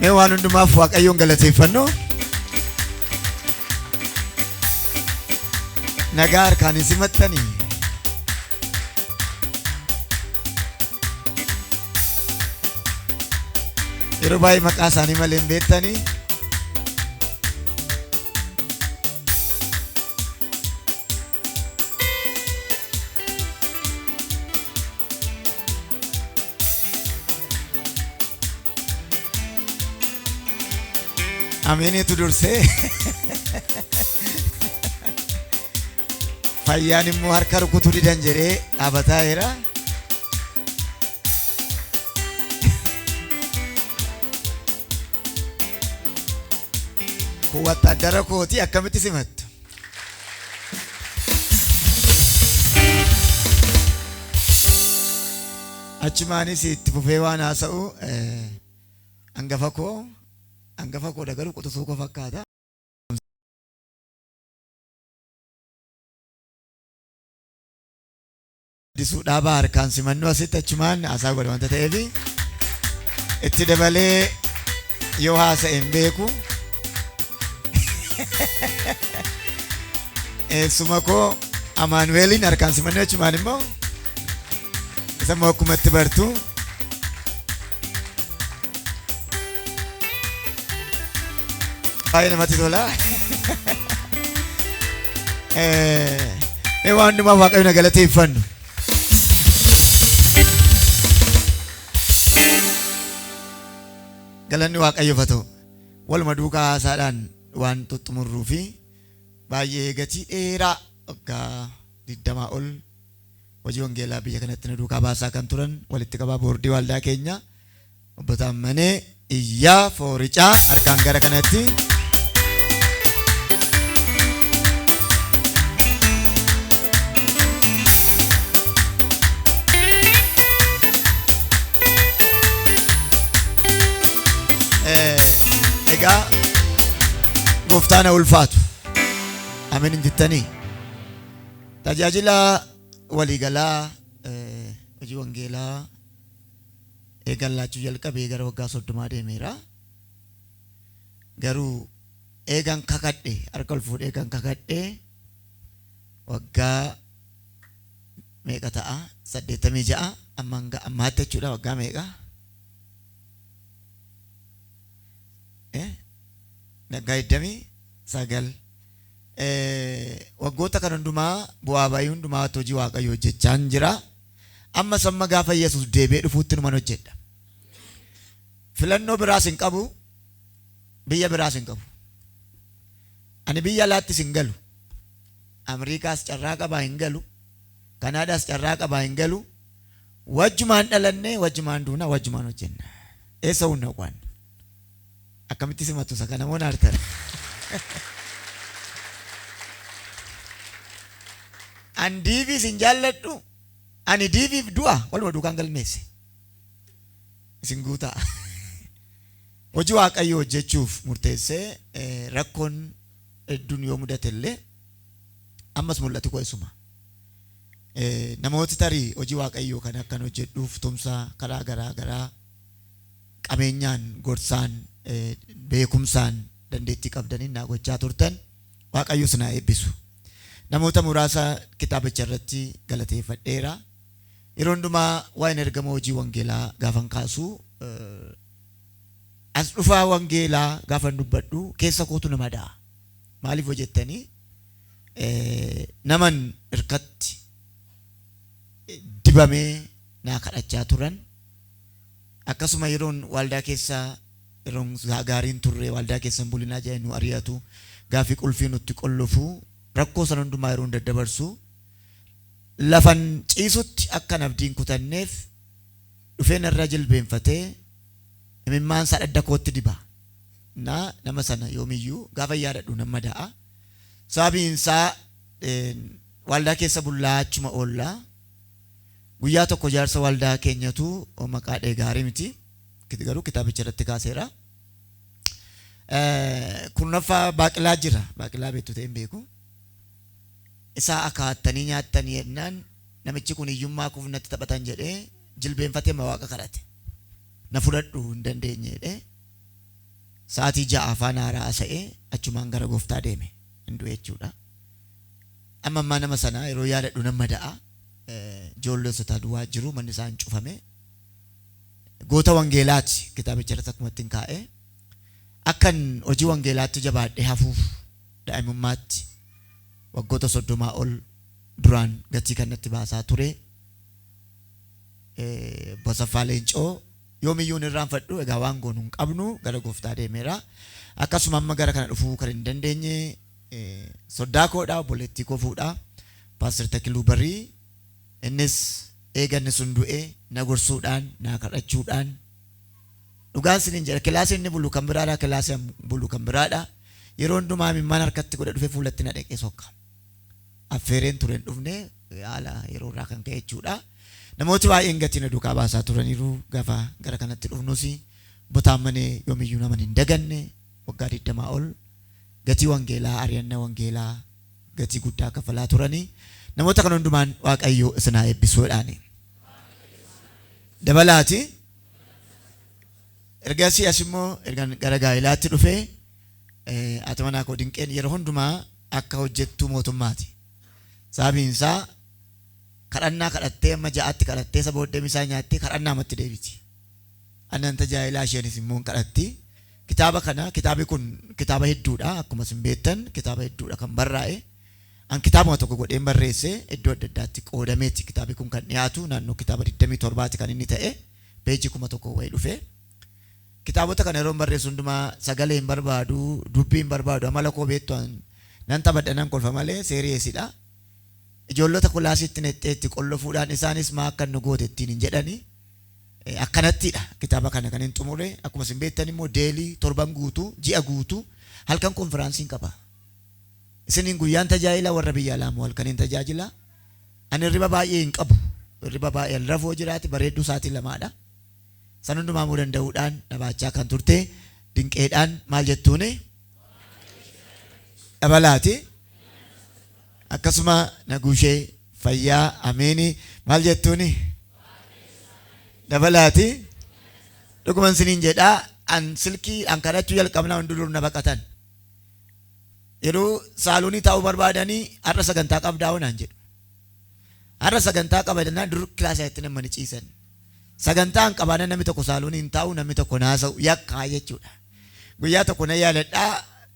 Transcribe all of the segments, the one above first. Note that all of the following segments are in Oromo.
Mee waan hundumaaf Waaqayyoon galateeffannu. Nagaa harkaan isin maxxani. Yeroo baay'ee maqaa isaanii malee hin beektani. Ameeniitu dursee. Fayyaan immoo harka rukutuu didan jedhee dhaabataa jira. Kun wattaaddara kooti akkamitti simattu? Achumaanis itti fufee waan haasa'u eh, hangafa koo hangafa koo dagaruu quxusuu koo fakkaata. Addisuu Dhaabaa harkaan simannuu asitti achumaan haasaa godha wanta ta'eef itti dabalee yoo haasa'e hin beeku. Eessuma koo Amaanuweeliin harkaan simannuu achumaan immoo isa immoo akkumatti bartu. Baay'ee namatti tola. Eh, Mee waan hundumaa waaqayyoon haa galateeffannu. Galanni waaqayyoof haa ta'u. Waluma duukaa haasaadhaan waan xumurruu fi baay'ee gatii dheeraa waggaa digdamaa ol hojii wangeelaa biyya kanatti nu duukaa baasaa kan turan walitti qabaa boordii waaldaa keenya obbo Taammanee Iyyaa Fooricaa harkaan gara kanatti Eh, egaa gooftaan haa ulfaatu amin hin jettanii Tajaajila waliigalaa hojii wangeelaa eegan laachuu jalqabee gara waggaa soddomaa deemeera. Garuu eegan kakadhe harka ol fuudhee eegan kakadhe waggaa meeqa ta'a saddeettamii ja'a amma hanga ammaatti jechuudha waggaa meeqa Eh? waggaa digdamii sagal waggoota kana hundumaa bu'aa ba'ii hundumaatti hojii Waaqayyoo hojjechaan jira. Ammas amma gaafa Yesuus deebi'ee dhufuutti numan hojjedha. Filannoo biraas hin qabu, biyya biraas hin qabu. Ani biyya alaattis hin galu. Ameerikaas carraa qabaa hin galu. Kanaadaas carraa qabaa hin galu. Wajjumaan dhalannee, wajjumaan duunaa, wajjumaan hojjenna. Eessa hunna qo'anna? Akkamitti simattu isa kana moo naartan? An diiviis hin jaalladhu. Ani diiviif du'a waluma duukaan galmeesse. Isin guutaa. Hojii Waaqayyoo hojjechuuf murteessee eh, rakkoon hedduun yoo mudate illee ammas mul'ati koo isuma. Eh, Namooti tarii hojii Waaqayyoo kan akkan hojjedhuuf tumsa karaa garaa garaa qabeenyaan, gorsaan, beekumsaan, dandeettii qabdaniin naa gochaa turtan. Waaqayyo isin haa eebbisu. Namoota muraasa kitaabicha irratti galateeffadheera. Yeroo hundumaa waa'een ergama hojii wangeelaa gaafan kaasu as dhufaa wangeelaa gaafan dubbadhu keessa kootu nama da'a. Maaliif hojjettanii naman irkatti dibamee naa kadhachaa turan Akkasuma yeroon waaldaa keessa yeroon gaarii hin turre waaldaa keessa hin bulinaa jedhanii nu ari'atu, gaaffii qulfii nutti qollofu, rakkoo sana hundumaa yeroon daddabarsu lafan ciisutti akkan abdii hin kutanneef dhufee narra jilbeenfatee imimmaan isaa dhadda kootti diba. Na nama sana yoomiyyuu gaafan yaadadhu nan madaa'a. Sababiin isaa waaldaa keessa bullaa achuma oolla. Guyyaa tokko jaarsa waaldaa keenyatu maqaa dha'e gaarii miti. Kit- Garuu kitaabicha irratti kaaseera. Eh, Kurnaffaa baaqilaa jira. Baaqilaa beektu ta'e hin beeku. Isaa akaattanii nyaattanii jennaan namichi kun hiyyummaa kuuf natti taphatan jedhee jilbeenfatee ma waaqa kadhate. Na fudhadhu hin dandeenye jedhee sa'aatii ja'a afaan haaraa haasa'ee achumaan gara gooftaa deeme. Hin du'e jechuudha. Amma ammaa nama sana yeroo yaadadhu nan mada'a. Ijoollessotaa duwaa jiru manni isaan cufame. Goota wangeelaati kitaabicha irratti akkuma ittiin kaa'e. Akkan hojii wangeelaatti jabaadhee hafuuf daa'imummaatti waggoota soddomaa ol duraan gatii kan natti baasaa ture. Bosaffaa Leencoo yoomiyyuu hin irraanfadhu egaa waan goonu hin qabnu gara gooftaa deemeera. Akkasuma amma gara kana dhufuu kan hin dandeenye Soddaa koodha obboleettii koo fuudha Pastor Takiluu Barii innis eega inni sun du'e na gorsuudhaan naa kadhachuudhaan dhugaan sinin jedha kilaasii inni bulu kan biraadha kilaasii an bulu kan biraadha yeroo hundumaa imimmaan harkatti godhe dhufe fuulatti na dhaqee sokka affeereen ture hin dhufne haala yeroo irraa kan ka'e jechuudha namooti baay'een gatii na duukaa baasaa turaniiru gafa gara kanatti dhufnus botaammanee yoomiyyuu naman hin daganne waggaa 20 ol gatii wangeelaa, ari'anna wangeelaa gatii guddaa kafalaa turanii namoota kana hundumaan Waaqayyo isin haa eebbisuu jedhaani. Dabalaati ergasii as immoo ergan gara gaa'elaatti dhufee eh, haati manaa koo dinqeen yeroo hundumaa akka hojjettuu mootummaati. Sababiin isaa kadhannaa kadhattee amma ja'aatti kadhattee isa booddee misaa nyaattee kadhannaa matti deebiti. Annan tajaajilaa isheenis immoo hin kadhatti. Kitaaba kana kitaabi kun kitaaba hedduudha akkuma isin beektan kitaaba hedduudha kan barraa'e an kitaabuma tokko godheen barreesse iddoo adda addaatti qoodameeti kitaabi kun kan dhiyaatu naannoo kitaaba 27ti kan inni ta'e peejii 1000 wayii dhufe kitaabota kana yeroon barreessu hundumaa sagalee hin barbaadu dubbii hin barbaadu amala koo beektu an nan taphadha nan kolfa malee seeriyeesidha ijoollota kulaasiitti nexxeetti qollofuudhaan isaanis maa akka nu goote ittiin hin jedhani Akkanattidha kitaaba kana kanin xumure. Akkuma isin beektan immoo daily torban guutuu, ji'a guutuu halkan konfiraansiin qaba. Isiniin guyyaan tajaajila warra biyya alaa immoo halkaniin tajaajila. Ani hirriba baay'ee hin qabu. Hirriba baay'ee hin rafuu jiraate bareedduu sa'aatii lamaadha. San hundumaa immoo danda'uudhaan dhabaachaa kan turte dinqeedhaan maal jettuuni? Dabalaati. Akkasuma Naguushe fayyaa ameeni maal jettuuni dabalaati dhuguman siniin jedha an silkii an kadhachuu jalqabna hundi dur na baqatan yeroo saalonii taa'uu barbaadanii har'a sagantaa qabdaa wanaan jedhu har'a sagantaa qabadannaa dur kilaasa itti namani ciisan sagantaa an qabaana namni tokko saalonii hin taa'u namni tokko naasa'u yakkaa jechuudha guyyaa tokko na yaaladhaa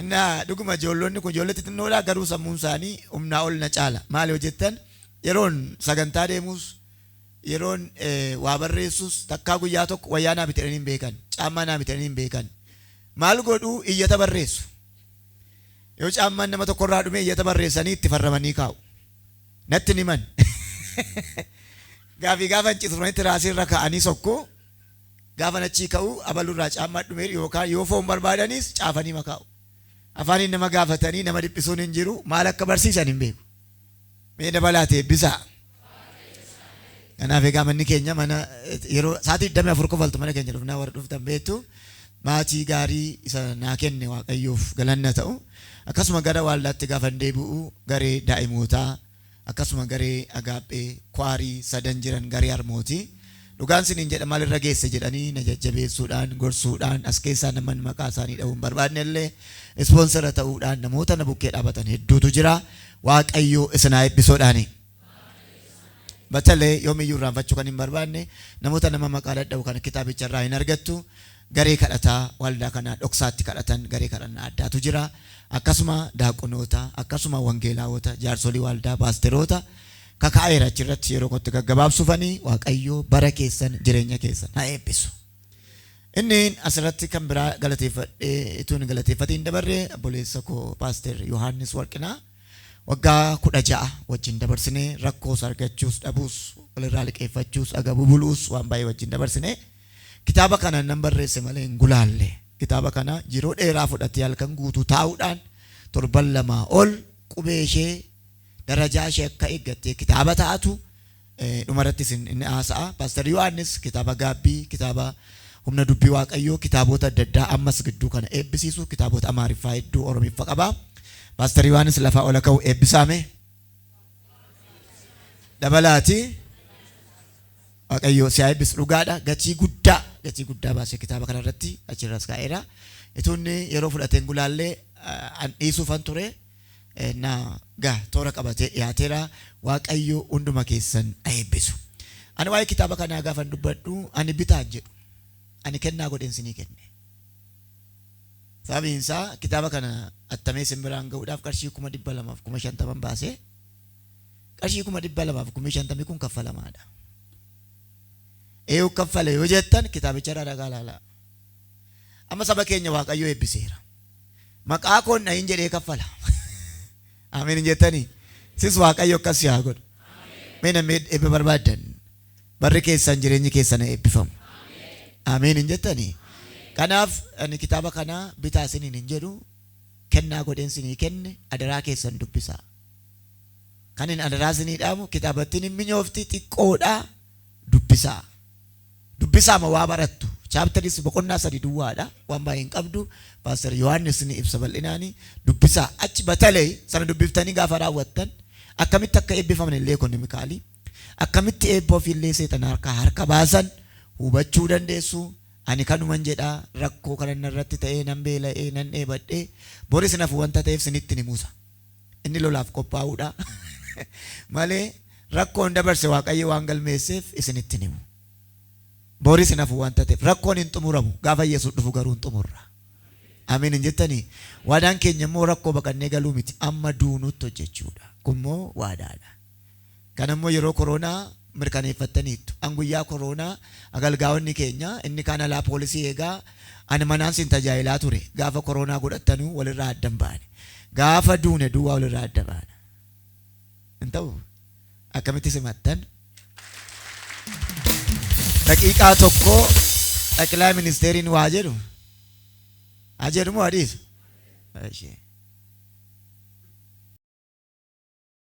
Innaa dhuguma ijoollonni kun ijoollee xixinnoodha garuu sammuun isaanii humnaa ol na caala. Maali yoo jettan yeroon sagantaa deemuus yeroon waa barreessus takkaa guyyaa tokko wayyaa naa bitadhanii hin beekan. Caammaa naa bitadhanii hin beekan. Maal godhu iyyata barreessu. Yoo caammaan nama tokkorraa dhume iyyata barreessanii itti farramanii kaa'u. Natti hin himan. Gaafii gaafa hin citu dhufanii tiraasii irra kaa'anii sokku. Gaafan achii ka'u abalurraa caammaa dhumeera yookaan yoo foon barbaadanis caafanii makaa'u. Afaaniin nama gaafatanii nama dhiphisuun hin jiru, maal akka barsiisan hin beeku. Mee dabalaati eebbisaa. Kanaaf egaa manni keenya mana yeroo sa'aatii 24 kofaltu mana keenya dhufnaa warri dhuftan beektu maatii gaarii isa naa kenne waaqayyoof galanna ta'u akkasuma gara waaldaatti gaafan deebi'u garee daa'imootaa akkasuma garee Agaaphee, Kwaarii, sadan jiran garee harmooti. Dhugaan siniin jedha maal irra geesse jedhanii na jajjabeessuudhaan, gorsuudhaan, as keessaa naman maqaa isaanii dhahuu hin barbaadne illee ispoonsera ta'uudhaan namoota na bukkee dhaabatan hedduutu jira. Waaqayyo isin haa eebbisoodhaani. Batalee yoomiyyuu irraanfachuu kan hin barbaadne namoota nama maqaa dhadha'u kana kitaabicha irraa hin argattu. Garee kadhataa waaldaa kanaa dhoksaatti kadhatan garee kadhannaa addaatu jira. Akkasuma daaqonoota, akkasuma wangeelaawota, jaarsolii waaldaa, paasteroota kaka'aeera achirratti yeroo kootti gaggabaabsufani Waaqayyo bara keessan jireenya keessan ha eebbisu. Inni asirratti kan biraa galateeffadhee ituu hin galateeffatiin hin dabarre obboleessa koo paaster Yohaannis Warqinaa waggaa kudha ja'a wajjin dabarsine rakkoos argachuus dhabuus walirraa liqeeffachuus agabuu buluus waan baay'ee wajjin dabarsine. Kitaaba kana nan barreesse malee hin gulaalle. Kitaaba kana yeroo dheeraa fudhatee halkan guutuu taa'uudhaan torban lamaa ol qubee ishee darajaa ishee akka eeggattee kitaaba taatu dhumarratti isin inni haasa'a. Paaster Yohaannis kitaaba gaabbii, kitaaba humna dubbii waaqayyoo, kitaaboota adda addaa ammas gidduu kana eebbisiisu kitaaboota Amaariffaa hedduu Oromiffa qaba. Paaster Yohaannis lafaa ola ka'u eebbisaame. Dabalaati. Waaqayyoo si haa eebbisu dhugaadha gatii guddaa gatii guddaa baasee kitaaba kana irratti achirras kaa'eera. Ituunni yeroo fudhateen gulaallee an dhiisuufan ture na ga toora qabatee dhiyaateera waaqayyoo hunduma keessan haa eebbisu. Ani waa'ee kitaaba kanaa gaafan dubbadhu ani bitaan jedhu ani kennaa godheen sinii kenne. Sababiin isaa kitaaba kana attamee isin biraan ga'uudhaaf qarshii kuma dhibba lamaaf kuma shantaman baasee Qarshii kuma dhibba lamaa fi kumii shantamii kun kaffalamaadha. Eeyuu kaffale yoo jettan kitaabicharraa dhagaa ilaalaa. Amma saba keenya Waaqayyo eebbiseera. Maqaa koon dhahin jedhee kaffala. Ameen hin jettanii? Sis Waaqayyo akkas si haa godhu. Mee namni eebba barbaaddan barri keessan jireenyi keessan eebbifamu. Ameen hin jettanii? Kanaaf ani kitaaba kana bitaa isiniin hin jedhu kennaa godheen isinii kenne adaraa keessan dubbisaa. Kanin adaraa isinii dhaamu kitaabattiin hin minyoofti xiqqoodha dubbisaa. Dubbisaama waa barattu. Chapters boqonnaa sadi duwwaadha waan baay'ee hin qabdu. Pastor Yohaannis ni ibsa bal'inaani. Dubbisaa achi batalay sana dubbiftanii gaafa raawwattan akkamitti akka eebbifaman illee ekonomikaalii akkamitti eebba ofii illee seexana harkaa harka baasan hubachuu dandeessu. Ani kanuman jedha rakkoo kanan narratti ta'ee nan beela'ee nan dheebadhee boris nafu wanta ta'eef sinitti ni musa. Inni lolaaf qophaa'uudha malee rakkoon dabarse Waaqayyo waan galmeesseef isinitti hin himu. Boris hin hafu waan tateef rakkoon hin xumuramu gaafa Yesuus dhufu garuu hin xumurra. Ameen hin jettanii? Waadaan keenya immoo rakkoo baqannee galuu miti amma duunuutti hojjechuudha. Kun immoo waadaadha. Kana immoo yeroo koroonaa mirkaneeffattaniittu. An guyyaa koroonaa agalgaa'onni keenya inni kaan alaa poolisii eegaa ani manaan sin tajaajilaa ture. Gaafa koroonaa godhattanuu walirraa adda hin baane. Gaafa duune duwwaa walirraa adda baana. Hin ta'uu? Akkamitti simattan? Daqiiqaa tokko xaqilaay ministeeriin waa jedhu haa jedhu moo haa dhiisu? Ishee.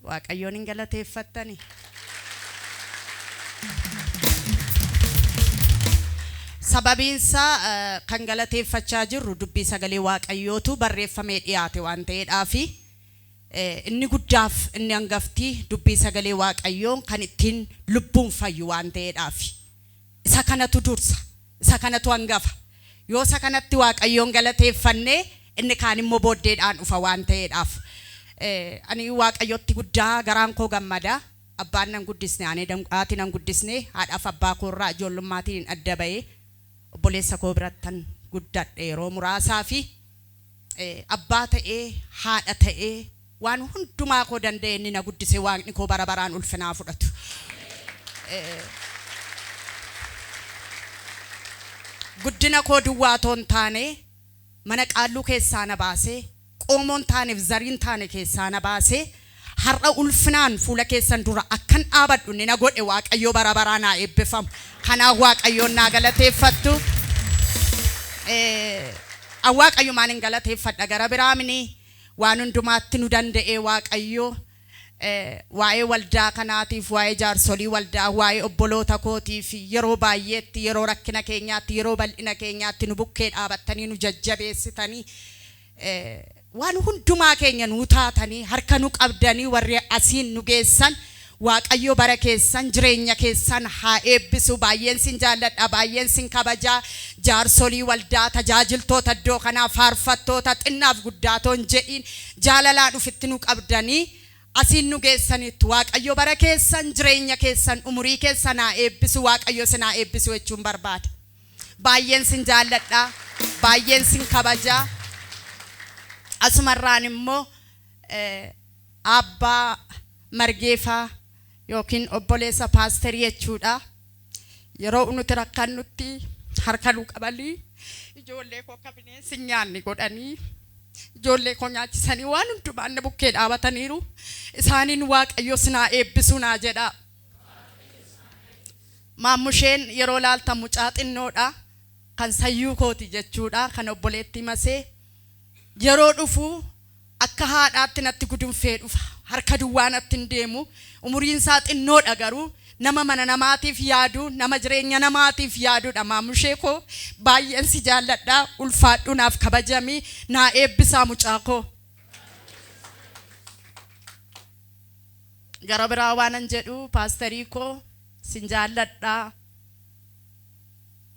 Waaqayyoon hin galateeffattanii? Sababiinsaa kan galateeffachaa jirru dubbii sagalee Waaqayyootu barreeffamee dhiyaate waan ta'eedhaafi. Inni guddaaf inni angafti dubbii sagalee Waaqayyoo kan ittiin lubbuun fayyu waan ta'eedhaafi. Isa kanatu dursa, isa kanatu angafa. Yoo isa kanatti Waaqayyoon galateeffanne, inni kaan immoo booddeedhaan dhufa waan ta'eedhaaf. Ani Waaqayyotti guddaa garaan koo gammada. Abbaan nan guddisne, haati nan guddisne, haadhaaf abbaa koo irraa ijoollummaatiin adda ba'ee obboleessa koo birattan guddadhe yeroo muraasaaf. Abbaa ta'ee, haadha ta'ee, waan hundumaa koo danda'ee inni na guddise Waaqni koo bara baraan ulfina haa fudhatu. Guddina koo duwwaa otoo hin taane, mana qaalluu keessaa na baasee, qoomoo hin taanef zarii hin taane keessaa na baasee, Har'a ulfinaan fuula keessan dura akkan dhaabadhu inni na godhe Waaqayyo bara baraan haa eebbifamu. Kanaaf Waaqayyoon naa galateeffattu. An Waaqayyumaan hin galateeffadha gara biraa mini waan hundumaatti nu danda'ee Waaqayyo waa'ee waldaa kanaatiif waa'ee jaarsolii waldaa waa'ee obboloota kootiif yeroo baay'eetti yeroo rakkina keenyaatti yeroo bal'ina keenyaatti nu bukkee dhaabattanii nu jajjabeessitanii Waan hundumaa keenya nuu taatanii harka nu qabdanii warri asiin nu geessan waaqayyo bara keessan jireenya keessan haa eebbisu baay'een sin jaalladha baay'een sin kabajaa jaarsolii waldaa tajaajiltoota iddoo kanaa faarfattoota xinnaaf guddaa otoo hin jedhiin jaalalaan ufitti nu qabdanii asiin nu geessaniittu waaqayyo bara keessan jireenya keessan umurii keessan haa eebbisu waaqayyo isin haa eebbisu jechuun barbaada. Baay'een sin jaalladha, baay'een sin kabaja. Asumarraan immoo Aabbaa Margeefaa yookiin obboleessa paasterii jechuudha. Yeroo nuti rakkannutti harka nu qabanii ijoollee koo akka bineensi hin nyaanne godhanii ijoollee koo nyaachisanii waan hundumaan na bukkee dhaabataniiru. Isaaniin Waaqayyo sin haa eebbisu naa jedha. Maammusheen yeroo laaltan mucaa xinnoodha kan sayyuu kooti jechuudha kan obboleettii masee yeroo dhufu akka haadhaatti natti gudunfee dhufa harka duwwaa natti hin deemu umuriin isaa xinnoodha garuu nama mana namaatiif yaadu nama jireenya namaatiif yaadudha maammushee koo baay'een si jaalladha ulfaadhu naaf kabajami naa eebbisaa mucaa koo. Gara biraa waanan jedhu paasterii koo sin jaalladha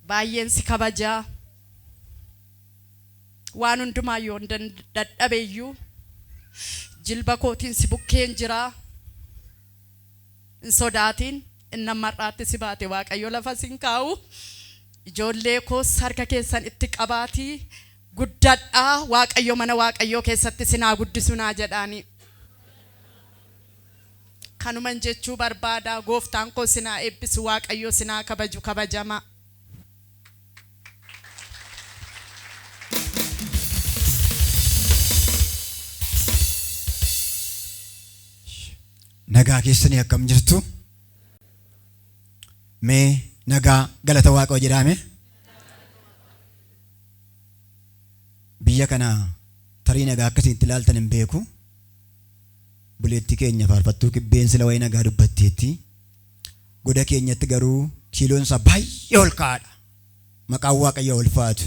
baay'een si kabaja waan hundumaa yoon dadhabe iyyuu jilba kootiin si bukkeen jira hin sodaatiin inni amma har'aatti si baate waaqayyo lafa sin kaa'u ijoollee koos harka keessan itti qabaatii guddadhaa waaqayyo mana waaqayyoo keessatti sin haa guddisu naa jedhaanii. Kanuman jechuu barbaada gooftaan koo sin haa eebbisu waaqayyoo sin haa kabaju kabajamaa. Nagaa keessanii akkam jirtu? Mee nagaa galata waaqoo jedhaame. Biyya kana Tariin egaa akkasiin itti ilaaltan hin beeku. Obboleettii keenya faarfattuu kibbeen sila waa'ee nagaa dubbatteetti. Goda keenyatti garuu kiiloon isaa baay'ee ol ka'aadha. Maqaan Waaqayyoo ulfaatu.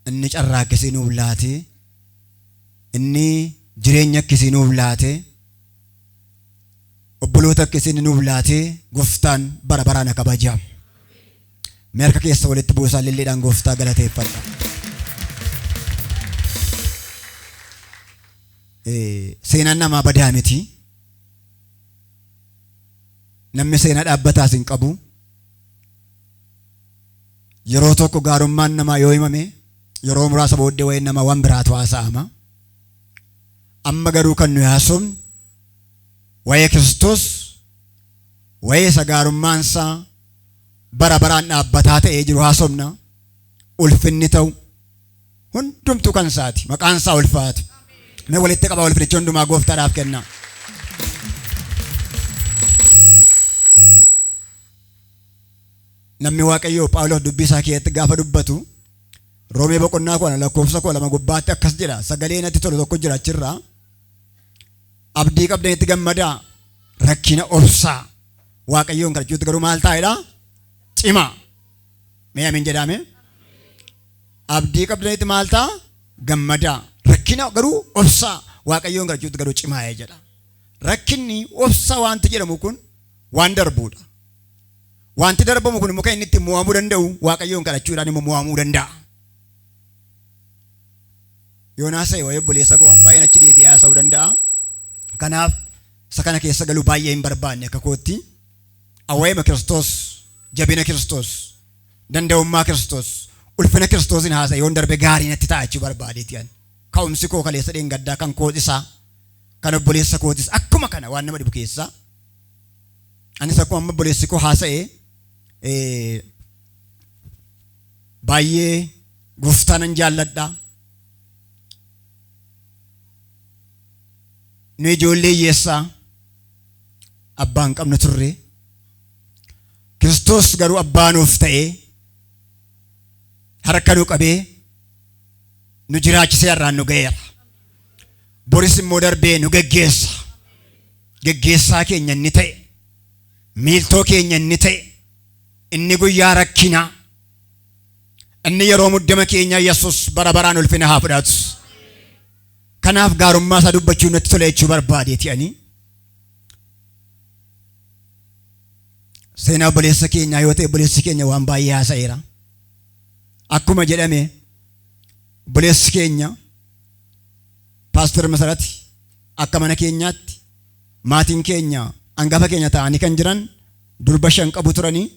Inni carraa akkasii nuuf laate. Inni jireenya akkasii nuuf laate. Obboloota akkasii inni nuuf laate gooftaan bara baraan haa kabajamu. Mee harka keessa walitti buusaa lilliidhaan gooftaa galateeffadha. Eh, Seenaan namaa badaa miti. Namni seenaa dhaabbataas hin qabu. Yeroo tokko gaarummaan namaa yoo himame yeroo muraasa booddee waa'een namaa waan biraatu haasa'ama. Amma garuu kan nuyi haasofnu waa'ee Kiristoos waa'ee isa gaarummaan isaa bara baraan dhaabbataa ta'ee jiru haasofna. Ulfinni ta'u hundumtuu kan isaati. Maqaan isaa ulfaatu. Mee walitti qabaa ulfinicha hundumaa gooftaadhaaf kennaa. Namni Waaqayyoo Phaawulos dubbii isaa keessatti gaafa dubbatu Roomee boqonnaa koo lakkoofsa koo lama gubbaatti akkas jedha sagalee natti tolu tokko jira achirraa Abdii qabdanitti gammadaa. Rakkina obsaa. Waaqayyoon kadhachuutti garuu maal taa'edha? Cimaa. Mee amin jedhaame? Abdii qabdanitti maal ta'a? Gammadaa. Rakkina garuu obsaa. Waaqayyoon kadhachuutti garuu cimaa'ee jedha. Rakkinni obsa wanti jedhamu kun waan darbuudha. Wanti darbamu kun immoo kan inni ittiin mo'amuu danda'u waaqayyoon kadhachuudhaan immoo mo'amuu danda'a. Yoon haasa'e waa'ee obboleessa koo waan baay'een achi deebi'ee haasa'uu danda'a. Kanaaf isa kana keessa galuu baay'ee hin barbaanne akka kootti. Awwaa'eema Kiristoos, jabina Kiristoos, danda'ummaa Kiristoos, ulfina Kiristoosiin haasa'e yoon darbe gaarii natti ta'a jechuu barbaadeeti ani. Ka'umsi koo kaleessa dheengaddaa kan koos isaa kan obboleessa kootis akkuma kana waan nama dhibu keessaa. Anis akkuma amma obboleessi koo haasa'e baay'ee Gooftaa nan jaalladha. Nu ijoollee hiyyeessaa abbaa hin qabnu turre. Kiristoos garuu abbaa nuuf ta'ee harka nu qabee nu jiraachisee har'aan nu ga'eera. Boris immoo darbee nu geggeessa. Geggeessaa keenya inni ta'e, miiltoo keenya inni ta'e, inni guyyaa rakkinaa, Inni yeroo muddama keenya Yesus bara baraan ulfina haa fudhatu. Kanaaf gaarummaa isaa dubbachuu natti tola jechuu barbaadeeti ani. Seenaa obboleessa keenyaa yoo ta'e obboleessi keenya waan baay'ee haasa'eera. Akkuma jedhame obboleessi keenya paastor Masarati akka mana keenyaatti maatiin keenya hangafa keenya ta'anii kan jiran durba shan qabu turanii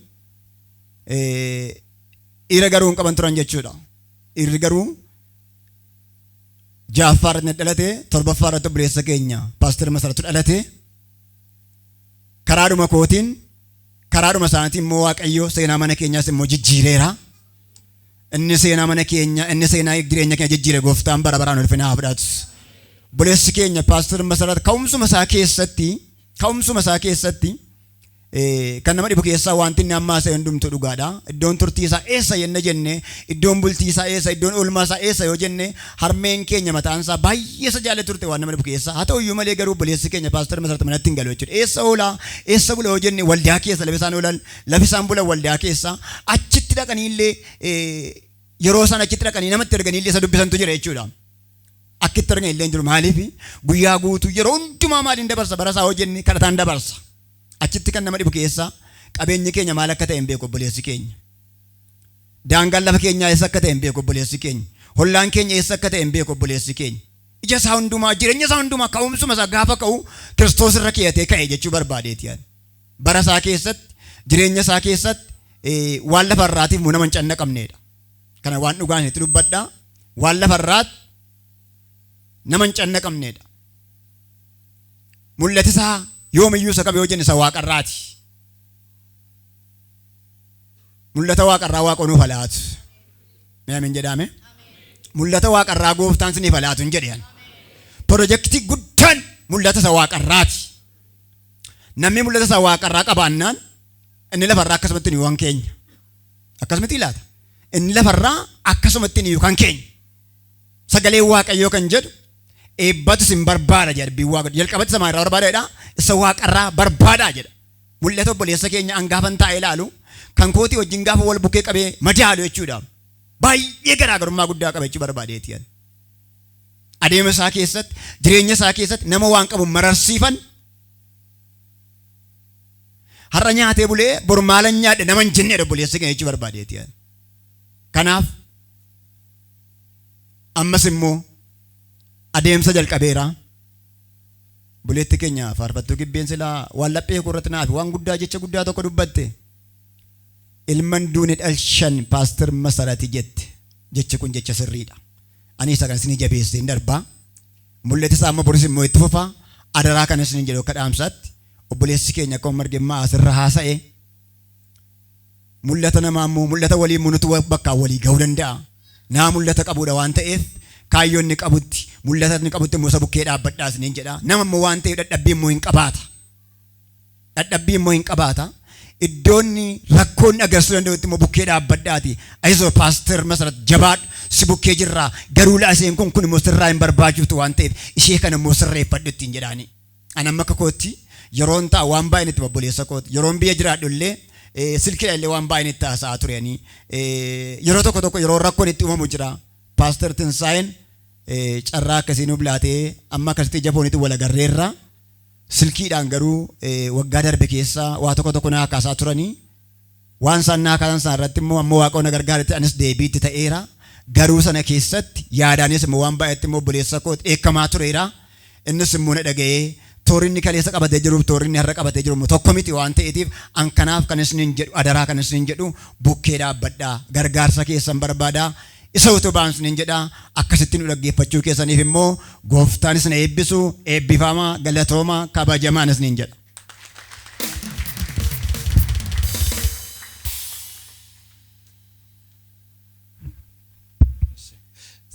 dhiira garuu hin qaban turan jechuudha. Dhiirri garuu ja'affaa irratti na dhalate torbaffaa irratti obboleessa keenya paaster Masaratu dhalate karaadhuma kootiin karaadhuma isaaniitiin immoo waaqayyo seenaa mana keenyaas immoo jijjiireera. Inni seenaa mana keenya inni seenaa jireenya keenya jijjiire gooftaan bara baraan ulfina haa fudhatu. Obboleessi keenya paaster Masarat ka'umsuma isaa keessatti ka'umsuma isaa keessatti Kan nama dhibu keessaa wanti inni amma haasa'e hundumtuu dhugaadha. Iddoon turtii isaa eessa jenne jenne, iddoon bultii isaa eessa, iddoon oolmaa isaa eessa yoo jenne, harmeen keenya mataan isaa baay'ee isa jaalatti turte waan nama dhibu keessaa. Haa ta'u iyyuu malee garuu obboleessi keenya paastar Masarat manatti hin galu jechuudha. Eessa oola, eessa bula yoo jenne waldaa keessa lafa isaan oolan, lafa isaan bulan waldaa keessa. Achitti dhaqanii illee yeroo isaan achitti dhaqanii namatti erganii illee isa dubbisantu jira jechuudha. Akka itti argan illee hin jiru. Maaliif guyyaa guutuu yeroo hundumaa maaliin dabarsa bara isaa hojjennee kadhataan dabarsa. Achitti kan nama dhibu keessaa qabeenyi keenya maal akka ta'e hin beeku obboleessi keenya. Daangaan lafa keenyaa eessa akka ta'e hin beeku obboleessi keenya. Hollaan keenya eessa akka ta'e hin beeku obboleessi keenya. Ija isaa hundumaa jireenya isaa hundumaa ka'umsuma isaa gaafa ka'u kiristoos irra keeyatee ka'e jechuu barbaadeeti yaani. Bara isaa keessatti jireenya isaa keessatti waan lafa irraatiif immoo nama hin cannaqamneedha. Kana waan dhugaa isinitti dubbadha. Waan lafa irraatti nama hin cannaqamneedha. Mul'ati isaa yoomiyyuu isa qabe yoo jenne isa waaqarraati. Mul'ata waaqarraa waaqa nuuf halaatu. Mee amin jedhaame? Mul'ata waaqarraa gooftaan siniif halaatu hin jedhe. Pirojektii guddaan mul'ata isa waaqarraati. Namni mul'ata isa waaqarraa qabaannaan inni lafarraa akkasumatti nu waan keenya. Akkas miti laata? Inni lafarraa akkasumatti inni kan keenya. Sagalee Waaqayyoo kan jedhu eebbatu isin barbaada jedha dubbiin Waaqayyo. Jalqabatti samaa irraa barbaada jedha. Isa waaqarraa barbaada jedha. Mul'ata obboleessa keenya an gaafan taa'ee ilaalu kan kootii wajjin gaafa wal bukkee qabee madaalu jechuudha. Baay'ee garaagarummaa guddaa qaba jechuu barbaadeeti. Adeema isaa keessatti jireenya isaa keessatti nama waan qabu mararsiifan Har'a nyaatee bulee bor maalan nyaadhe nama hin jenneedha obboleessi keenya jechuu barbaadeeti. Kanaaf ammas immoo adeemsa jalqabeera. Buleetti keenya faarfattuu gibbeen silaa waan laphee koo irratti naafi waan guddaa jecha guddaa tokko dubbatte. Ilman duune dhalshan paastar masarati jette jechi kun jecha sirriidha. Ani isa kan isin jabeessee hin darbaa. Mul'ati isaa amma boris immoo itti fufaa. Adaraa kan isin jedhu akka dhaamsaatti. obboleessi keenya akkuma marge immaa asirra haasa'e mul'ata namaa immoo mul'ata walii immoo nuti bakkaan walii ga'uu danda'a. Naa mul'ata qabuudha waan ta'eef kaayyoo inni qabutti mul'ata inni qabutti immoo isa bukkee dhaabbadhaa isiniin jedha. Nama immoo waan ta'eef dhadhabbii immoo hin qabaata. Dhadhabbii immoo hin qabaata. Iddoonni rakkoonni agarsiisuu danda'utti immoo bukkee dhaabbadhaati. Ayisoo paaster masarat jabaadhu si bukkee jirraa garuu laaseen kun kun immoo sirraa hin barbaachiftu waan ta'eef ishee kana immoo sirreeffadhu ittiin jedhaanii. An amma akka kootti yeroon ta'a waan baay'een itti obboleessa kooti. Yeroon biyya jiraadhu illee eh, silkiidhaan illee waan baay'een itti haasa'aa ture ani. Eh, yeroo tokko tokko yeroo rakkoon itti uumamu jira. Paaster Tinsaa'een eh, carraa akkasii nuuf laatee amma akkasitti ija fooniitiin wal agarreerra. Silkiidhaan garuu eh, waggaa darbe keessa waa tokko tokko na haasa'aa turanii Waan isaan naa kaasan sana irratti immoo amma Waaqayyo na gargaaretti anis deebii itti ta'eera. Garuu sana keessatti yaadaanis immoo waan baay'eetti immoo obboleessa koo dheekkamaa tureera. Innis immoo na dhaga'ee toorri inni kaleessa qabatee jiruuf toorri inni har'a qabatee jiru immoo tokko miti waan ta'eetiif an kanaaf kan isiniin jedhu adaraa kan isiniin jedhu bukkee dhaabbadhaa gargaarsa keessan barbaadaa isa utubaan isiniin jedha akkasitti nu dhaggeeffachuu keessaniif immoo gooftaan isin eebbisu eebbifamaa galatooma kabajamaan isiniin jedha.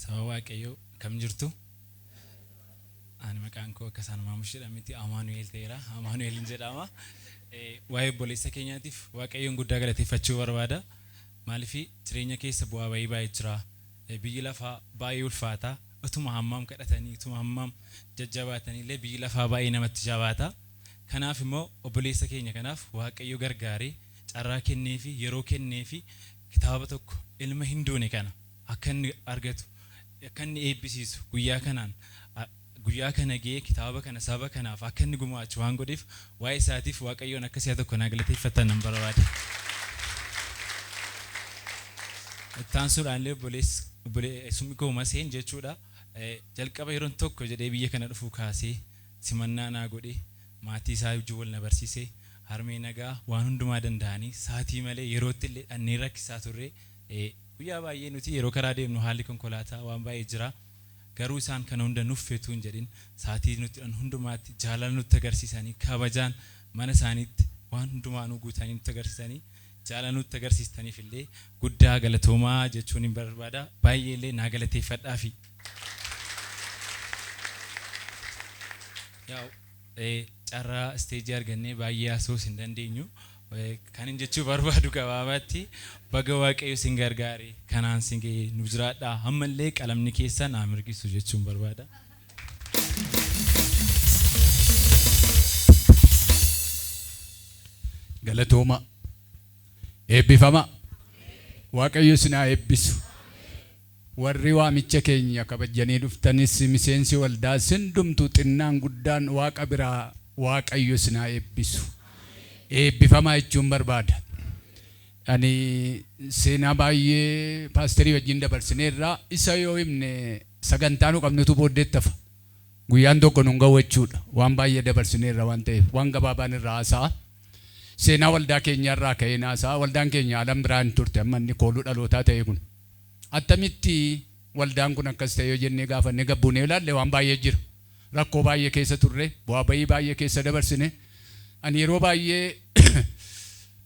Saba Waaqayyoo kam jirtu? Ani maqaan koo akka isaan maamush jedhametti Amaanu'eel ta'eera. Amaanu'eel hin jedhama. Eh, Waa'ee obboleessa keenyaatiif Waaqayyoon guddaa galateeffachuu barbaada. Maaliif jireenya keessa bu'aa ba'ii baay'ee jira. Biyyi lafaa baay'ee ulfaata. Utuma hammam kadhatanii, utuma hammam jajjabaatanii illee biyyi lafaa baay'ee namatti jabaata. Kanaaf immoo obboleessa keenya kanaaf Waaqayyo gargaaree, carraa kenneefii, yeroo kenneefii kitaaba tokko ilma hin duune kana akka inni argatu, akka inni eebbisiisu guyyaa kanaan, Guyyaa kana ga'ee kitaaba kana saba kanaaf akka inni gumaachu waan godheef waa'ee isaatiif Waaqayyoon akka si'a tokko naa galateeffattan nan barbaada. Itti aansuudhaan illee obboleessi obboleessummi koo Maseen jechuudha jalqaba yeroon tokko jedhee biyya kana dhufuu kaasee simannaa naa godhee maatii isaa wajjin wal na barsiisee harmee nagaa waan hundumaa danda'anii sa'atii malee yerootti illee dhannee rakkisaa turree guyyaa baay'ee nuti yeroo karaa deemnu haalli konkolaataa waan baay'ee jira. Garuu isaan kana hunda nuffi utuu hin jedhin sa'atii nutti hidhan hundumaatti jaalala nutti agarsiisanii kabajaan mana isaaniitti waan hundumaa nu guutanii nutti agarsiisanii jaalala nutti agarsiistaniif illee guddaa galatoomaa jechuunin barbaada. Baay'ee illee naa galateeffadhaafi. Yaa'u. Carraa isteejii argannee baay'ee haasa'uus hin dandeenyu. Kanin jechuu barbaadu gabaabatti baga Waaqayyo isin gargaare kanaan isin ga'e nu jiraadhaa ammallee qalamni keessan haa mirgisu jechuun barbaada. Galatoomaa. Eebbifamaa. Waaqayyo isin haa eebbisu. Warri waamicha keenya kabajjanii dhuftanis, miseensi waldaas hundumtuu xinnaan guddaan Waaqa biraa Waaqayyo isin haa eebbisu. Eebbifamaa jechuun barbaada. Ani seenaa baay'ee paasterii wajjin dabarsineerra. Isa yoo himne sagantaa nu qabnutu booddeetti hafa. Guyyaan tokko nun ga'u jechuudha. Waan baay'ee dabarsineerra waan ta'eef. Waan gabaabaan irraa haasa'a. Seenaa waldaa keenyaa irraa ka'een haasa'a. Waldaan keenya alan biraa hin turte amma inni kooluu dhalootaa ta'e kun. Attamitti waldaan kun akkas ta'e yoo jennee gaafannee gad buunee yoo ilaalle waan baay'ee jira. Rakkoo baay'ee keessa turre, bu'aa ba'ii baay'ee keessa dabarsine. Ani yeroo baay'ee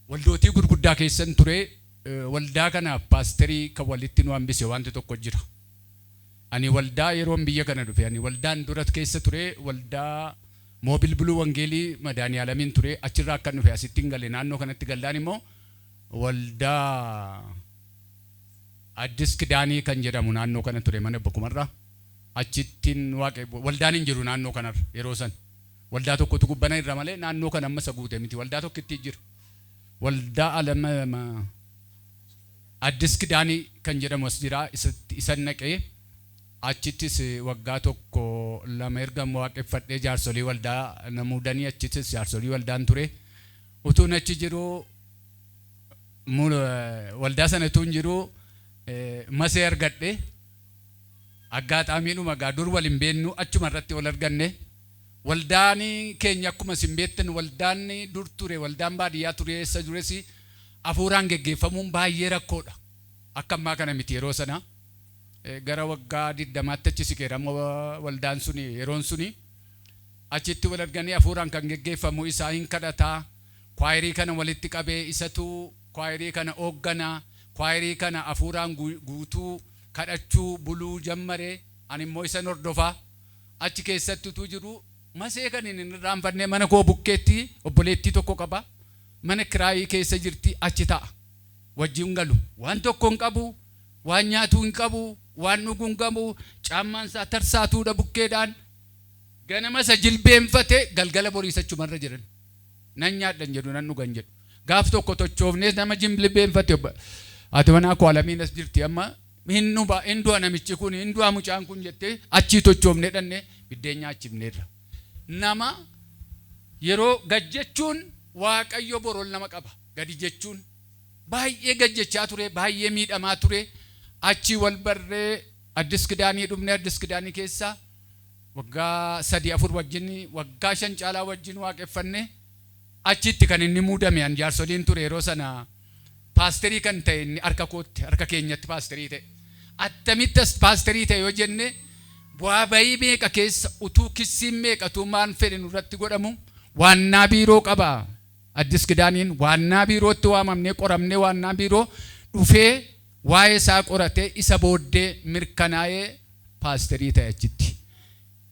waldootii gurguddaa keessan ture, waldaa kanaaf paasterii kan walitti nu hambise waanti tokko jira. Ani waldaa yeroon biyya kana dhufe, ani waldaan dura keessa ture waldaa Moobil Buluu Wangeelii Madaani'aalamiin ture, achirraa akkan dhufe asittin gale, naannoo kanatti gallaan immoo waldaa. Addis Kidaanii kan jedhamu naannoo kana ture mana Abba Kumarraa. Achittin Waaqe, waldaan hin jiru naannoo kanarra yeroo sana. Waldaa tokkotu gubbana irra malee naannoo kana amma isa guute miti. Waldaa tokkittii jira. Waldaa Alam, Addis Kidaanii kan jedhamu as jira. Isatti, isan dhaqee achittis waggaa tokko lama ergan Waaqeffadhee jaarsolii waldaa na muudanii achittis jaarsolii waldaan ture. Utuun achi jiruu, Waldaa sana utuun jiruu Masee argadhe. Aggaxaamiidhuma egaa dur wal hin beeknu achuma irratti wal arganne. Waldaan keenya akkuma isin beektan waldaan dur ture waldaan baadiyyaa ture eessa tures hafuuraan geggeeffamuun baay'ee rakkoodha. Akka ammaa kana miti yeroo sana. Gara waggaa 20tti achi siqeera amma waldaan suni yeroon suni. Achitti wal arganii hafuuraan kan geggeeffamu isaa hin kadhataa. Kwaayirii kana walitti qabe isatu kwaayirii kana ooggana. Kwaayirii kana afuuraan guutuu, kadhachuu, buluu jammare. Ani immoo isan hordofa. Achi keessatti utuu jiruu Masee kanin hin irraanfanne mana koo bukkeetti obboleettii tokko qaba. Mana kiraayii keessa jirti achi ta'a. Wajjin hin galu. Waan tokko hin qabu, waan nyaatu hin qabu, waan dhugu hin qabu, caammaan isaa tarsaatuudha bukkeedhaan. Ganama isa jilbeenfate galgala boriis achuma irra jiran. Nan nyaadha hin jedhu, nan dhuga hin jedhu. Gaaf tokko tochoofnees nama jimblibeemfate obbo Haati manaa koo Alamiin as jirti amma hin dhuba, hin du'a namichi kuni, hin du'a mucaan kun jettee achii tochoofnee dhaqnee biddeen nyaachifneerra. Nama yeroo gad jechuun Waaqayyo bor ol nama qaba. Gadi jechuun. Baay'ee gad jechaa ture, baay'ee miidhamaa ture. Achii wal barree Addis Kidaanii dhufne, Addis Kidaanii keessaa. Waggaa sadii afur wajjin waggaa shan caalaa wajjin waaqeffanne achitti kan inni muudame an jaarsoliin ture yeroo sana paasterii kan ta'e inni harka kootti harka keenyatti paasterii ta'e attamitti as paasterii ta'e yoo jenne bu'aa bayii meeqa keessa utuu kissiin meeqa utuu maan fedhe nurratti godhamu waannaa biiroo qaba addis kidaaniin waannaa biirootti waamamnee qoramnee waannaa biiroo dhufee Waa'ee isaa qoratee isa booddee mirkanaa'ee paasterii ta'e achitti.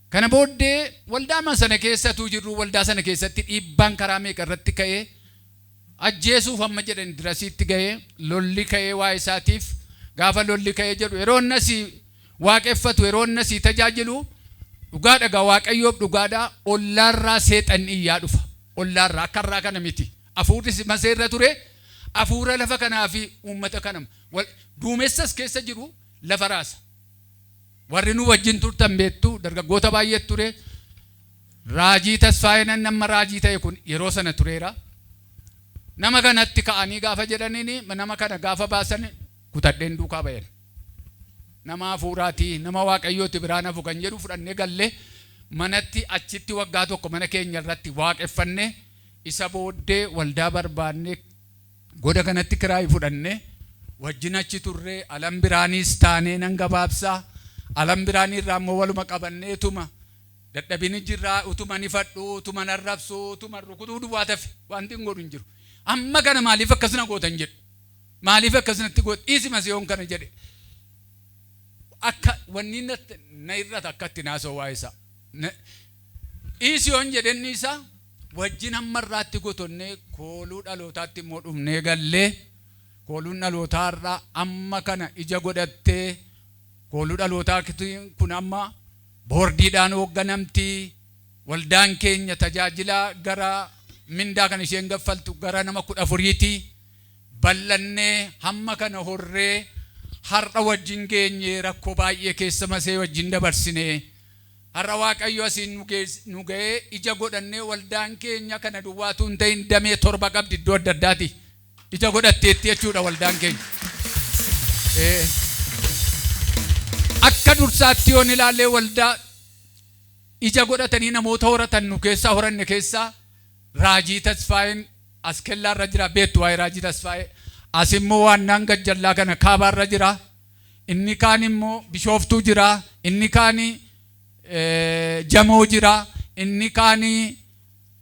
Kana booddee waldaama sana keessa utuu jirruu waldaa sana keessatti dhiibbaan karaa meeqa irratti ka'ee ajjeesuuf hamma jedhan dirasiitti ga'ee lolli ka'ee waa'ee isaatiif gaafa lolli ka'ee jedhu yeroo inni asii waaqeffatu yeroo inni asii tajaajilu dhugaadha egaa waaqayyoof dhugaadha ollaarraa seexanni iyyaa dhufa ollaarraa akka irraa kana miti. Afuurris Masee irra ture, afuura lafa kanaa fi uummata kana wal, duumessa as keessa jiru lafa raasa. Warri nuu wajjin turtan beektu, dargaggoota baay'eetu ture. Raajii Tasfaayeen inni amma raajii ta'e kun yeroo sana tureera. Nama kanatti ka'anii gaafa jedhaniin, nama kana gaafa baasan kutadheen duukaa ba'een. Nama afuuraati, nama Waaqayyooti biraan hafu kan jedhu fudhannee galle. Manatti achitti waggaa tokko mana keenya irratti waaqeffanne. Isa booddee waldaa barbaannee goda kanatti kiraayi fudhanne. Wajjin achi turre. Alam Biraaniis taanee nan gabaabsa. Alam Biraanii irraa immoo waluma qabannee utuma dadhabini jirra, utuman ifadhu, utuman arrabsu, utuman rukutuu duwwaatu hafe. Wantin godhu hin jiru. Amma kana maaliif akkas na gootan jedhu. Maaliif akkas natti goota? Dhiisi masi yoon kana jedhe akka wanni na hir'ata akka ittiin haasa'u waa'ee isaa. Dhiisi yoon jedhen dhiisa. wajjin hamma har'aatti gotonnee kooluu dhalootaatti immoo dhufnee galle. Kooluun dhalootaa har'a amma kana ija godhattee kooluu dhalootaa kun amma boordiidhaan hoogganamti. Waldaan keenya tajaajilaa gara mindaa kan isheen gaffaltu gara nama 14ti. Bal'annee hamma kana horree har'a wajjin geenyee rakkoo baay'ee keessa masee wajjin dabarsinee. Har'a Waaqayyo asiin nu gees, nu ga'ee ija godhannee waldaan keenya kana duwwaa utuu hin ta'in damee torba qabdi iddoo adda addaatii ija godhatteetti jechuu dha waldaan keenya. Ee. Akka dursaatti yoon ilaallee waldaa ija godhatanii namoota horatan nu keessaa horanne keessaa Raajii Tasfaayeen as kellaa irra jira beektu waa'ee Raajii Tasfaayee as immoo waannaan gajjallaa kana kaabaa irra jira. inni kaan immoo Bishooftuu jira, inni kaan Jamoo jira, inni kaan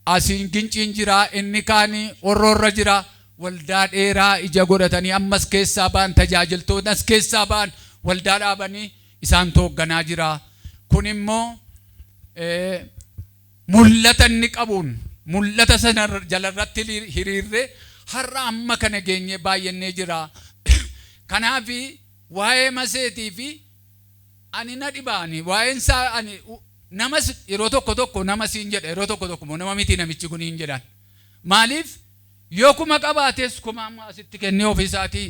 asiin Ginciin jira, inni kaan Horroo irra jira. Waldaa dheeraa ija godhatanii amma as keessaa ba'an tajaajiltootni as keessaa ba'an waldaa dhaabanii isaantu hoogganaa jira. Kun immoo Mul'ata inni qabuun, mul'ata sana jalarratti hiriirree har'a amma kana geenyee baay'annee jira. Kanaaf waa'ee maseetii fi ani na dhiba ani waa'een isaa ani namas yeroo tokko tokko nama siin jedha yeroo tokko tokko immoo nama miti namichi kun hin jedhan. Maaliif yoo kuma qabaates kuma amma asitti kennee ofii isaatii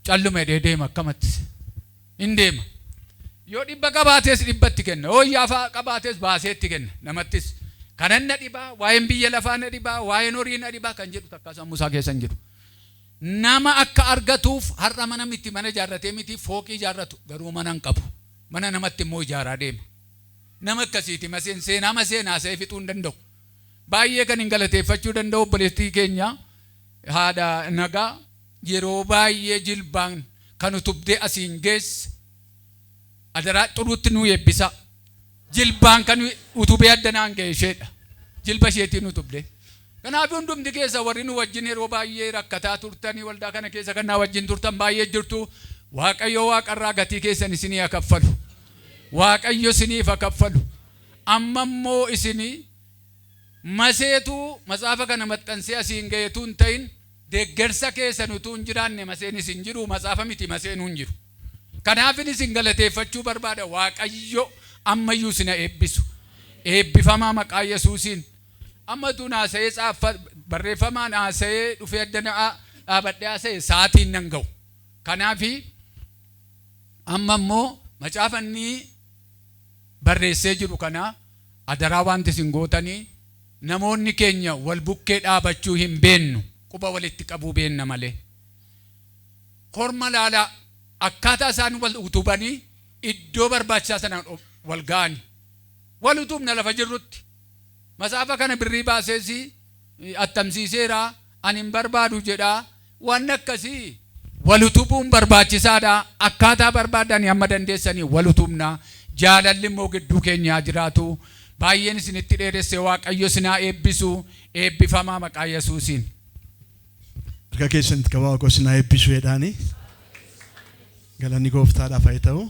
calluma jedhee deema akkamatti. in deema. Yoo dhibba qabaates dhibbatti kenna, yoo iyyaafa qabaates baaseetti kenna. Namattis, Kanan na dhiba, waa'een biyya lafaa na dhiba, waa'een horii na dhiba kan jedhu takkaa sammuu isaa keessa hin jiru. Nama akka argatuuf har'a mana miti mana ijaarratee miti fooqii ijaarratu, garuu mana hin qabu. Mana namatti immoo ijaaraa deema. Nama akkasiiti Maseen, seenaa Maseen haasa'ee fixuu hin danda'u. Baay'ee kanin galateeffachuu danda'u obboleettii keenya haadha Nagaa, yeroo baay'ee jilbaan kan utubdee asiin geesse adaraa xuruutti nuu eebbisaa jilbaan kan utubee adda naan ga'e isheedha jilba isheetiin utubdee kanaaf hundumti keessa warri nu wajjin yeroo baay'ee rakkataa turtanii waldaa kana keessa kan naa wajjin turtan baay'ee jirtu waaqayyo waaqarraa gatii keessan isinii haa kaffalu waaqayyo isiniif haa kaffalu amma immoo isinii maseetuu matsaafa kana maxxansee asiin ga'eetuu hin ta'in Deggersa keessan utuu hin jiraanne maseenis hin jiru, matsaafa miti maseenuu hin jiru. Kanaafin isin galateeffachuu barbaada. Waaqayyo amma iyyuu isin ha eebbisu. Eebbifamaa maqaa Yesuusiin. Amma utuun haasa'ee tsaaffa, barreeffamaan haasa'ee dhufee adda na dhaabadhee haasa'e sa'aatii hin nan ga'u. Kanaafi amma immoo macaafa inni barreessee jiru kana adaraa waanti isin gootanii, Namoonni keenya wal bukkee dhaabachuu hin beennu, quba walitti qabuu beenna malee. Korma laalaa akkaataa isaan wal utubanii iddoo barbaachisaa sana wal ga'ani. Wal utubna lafa jirrutti. Matsaafa kana birrii baasees attamsiiseera, ani hin barbaadu jedha, Wanni akkasii wal utubuun barbaachisaadha. Akkaataa barbaaddani hamma dandeessaniin wal utubna. Jaalalli immoo gidduu keenya haa jiraatu. Baay'een isinitti dheeresse Waaqayyo isin haa eebbisu. Eebbifamaa maqaa Yesuusiin. Harka keessan itti qabaa Waaqoo isin haa eebbisu jedhaani. Galanni Gooftaadhaaf haa ta'u.